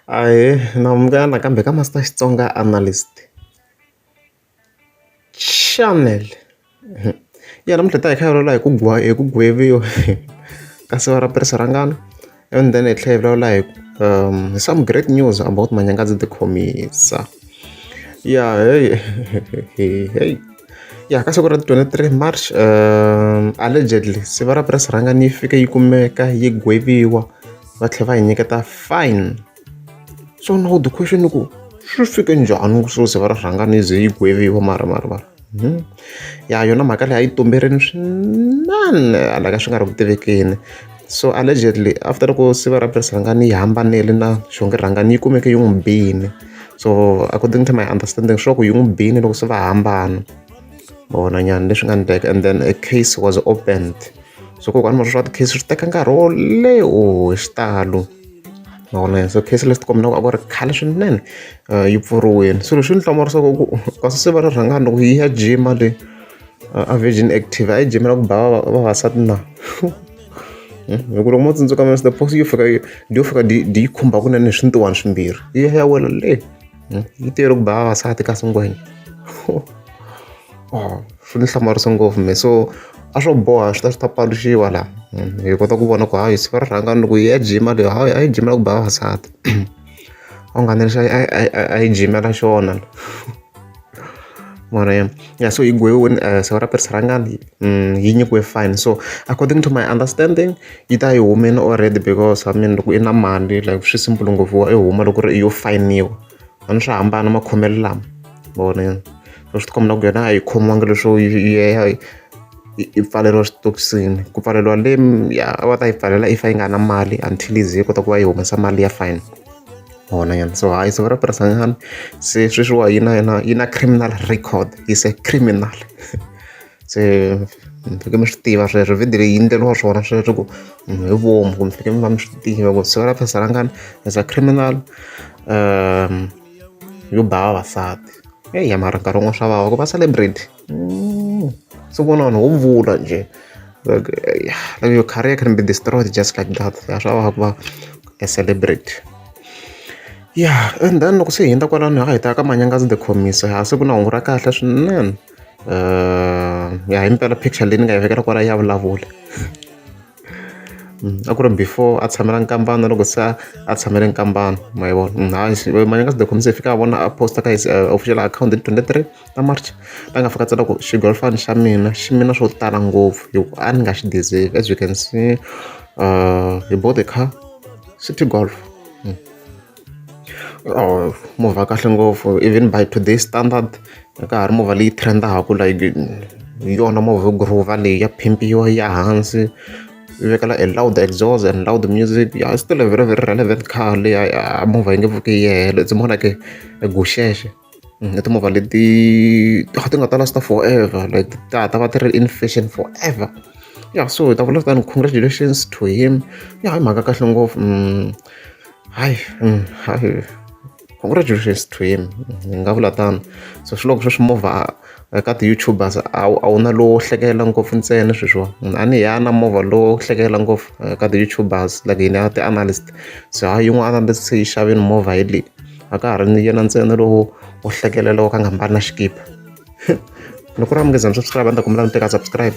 Ahee, na munghana nakambe ka Master Xitsonga Analyst. Chanel ya namuntlha hi ta hi kha hi vulavula hi ku hi ku gweviwa ka siva ra tirhisa ra ngana, and then hi tlhela hi vulavula hi hi some great news about manyanga ndzi ti khomisa. Ya heyi heyi, ya ka siku ra ti twenty three March allegedly siva ra press rhangana yi fike yi kumeka yi gweviwa. va tlhela va hi nyiketa fine so na ku the question i ku swi fike njhani ku swo ze va ri rhanga ni ze yi gweviwa mara mara mara hmm. ya yona mhaka leyi a yi tumberini swinene hala ka swi nga ri ku tivekeni so allegedly after loko siva ra press rhangani yi hambanile na xonge rhangani yi kumeke yi n'wi bini so according to my understanding swa ku yi n'wi bini loko se va hambana vona nyana leswi nga ni teka and then a case was opened so kokwani mara swa ti-case swi teka nkarhi wo leho oh, hi xitalo ma vona yena so case leti kombela ku a ku ri khale swinene eh, yi pfuriwile swilo swi ni hlamarisa ku kasi se va ri rhangani loko yi ya jima le eh, a virgin active a yi jimela ku ba vavasati na hmm? hi ku loko mo tsundzuka mr post yo fika yo fika di yi khumba kunene hi swintiwani swimbirhi yi ya ya wela le Hmm? yi tero ku ba vavasati kasi ngwenya oh, swi ni hlamarisa ngopfu me so a swo boha swi ta swi ta paluxiwa laha hmm, hi kota ku vona ku hayi siku ra rhanga loko yi ya jima leyi hayi a yi jimela ku ba vavasati a wu nga ni lexi a yi jimela xona mara ya so yi gweviwini eh, siku ra pirisi rhangani Mm, yi nyikiwe fine so according to my understanding yi ta yi humile already because i mean loko i na mali like swi simple ngopfu wa i huma loko ri i yo fayiniwa a ni swi hambana makhomelo lama vona so swi tikomba ku yena a yi khomiwangi leswo yeya i pfaleriwa switokisini ku pfaleriwa le ya a va ta yi pfalela if a yi nga na mali until yi ze yi kota ku va yi humesa mali ya fine hona yena so hayi siku ra purasanyana se sweswiwa yi na yena yi na criminal record is a criminal se mi faneke mi swi tiva sweswo video leyi yi endleriwa swona sweswo ku munhu hi vomu ku mi faneke mi va mi swi tiva ku siku ra phasa ra ngani as a criminal yo ba vavasati eya mara nkarhi wun'wana swa vava ku va celebrity mm. so vona vanhu ho vula njhe like, like your career can be destroyed just like that ya swa vava ku va a celebrity ya and then loko se hi hundza kwalano ha hi ta ka manyangazi the commiss ha se ku na hungu ra kahle swinene ya hi mpela picture leyi ni nga yi vekela kwala ya vulavula mm, a ku ri before a tshamela nkambana loko se a tshamele nkambana ma yi vona mm, hayi manya ka sidokhomisa hi fika a vona a posta ka his eh, official account hi twenty three ta march la nga fika tsela ku xigolfani xa mina xi mina swo tala ngopfu hi ku a ni nga xi deserve as you can see uh, he bought a car city golf Movha ya kahle ngopfu even by today standard a ka ha ri movha leyi trend-aka like hi yona movha yo ghuruva leyi ya phimpiwa yi ya hansi yi vekela a loud exos and loud music ya still a very very relevant car leyi a movha yi nge pfuki yi hela it's more like a guxexe. I timovha leti a ti nga ta last forever like ta ta va ti ri in fashion forever ya so hi ta vula kutani congratulations to him ya hi mhaka kahle ngopfu mm, hayi mm, hayi congratulations to him ni nga vula tano so swi loko sweswi movha ka ti-youtubers a wu na lowo hlekela ngopfu ntsena sweswiwa munhu a ni hi na movha lowo hlekela ngopfu eh, ka ti-youtubers like yini ya ti-analyst so ha yin'wana a ni se yi xaveni movha hi leyi a ka ha ri ni yena ntsena lowu wo hlekelela wo ka nga mbali na xikipa loko u ri a munghezani swa swi lava ni ta kombela mi teka subscribe.